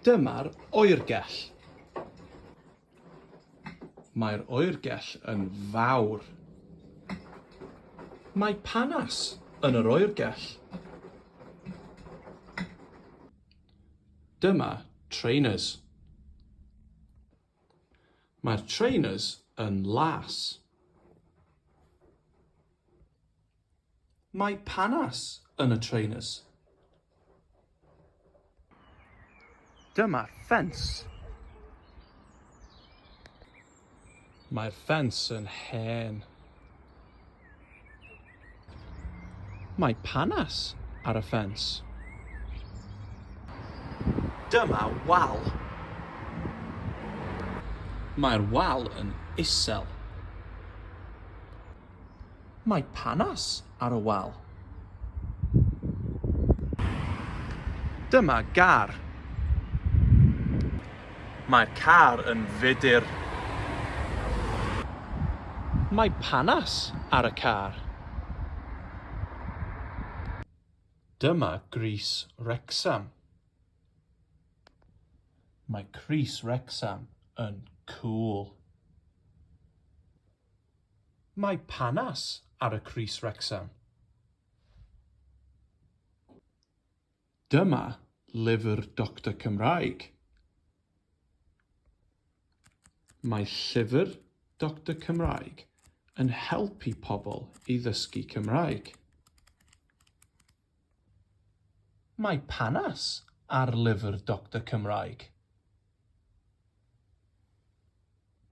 Dyma'r oergell. Mae'r oergell yn fawr. Mae panas yn yr oergell. Dyma trainers. Mae'r trainers yn las. Mae panas yn y trainers. Dyma'r ffens. Mae'r ffens yn hen. Mae panas ar y ffens. Dyma wal. Mae'r wal yn isel. Mae panas ar y wal. Dyma gar. Mae'r car yn fudr. Mae panas ar y car. Dyma grys Wrecsam. Mae crys Wrecsam yn cŵl. Mae panas ar y crys Wrecsam. Dyma lyfr Doctor Cymraeg. Mae llyfr Doctor Cymraeg yn helpu pobl i ddysgu Cymraeg. Mae panas ar lyfr Doctor Cymraeg.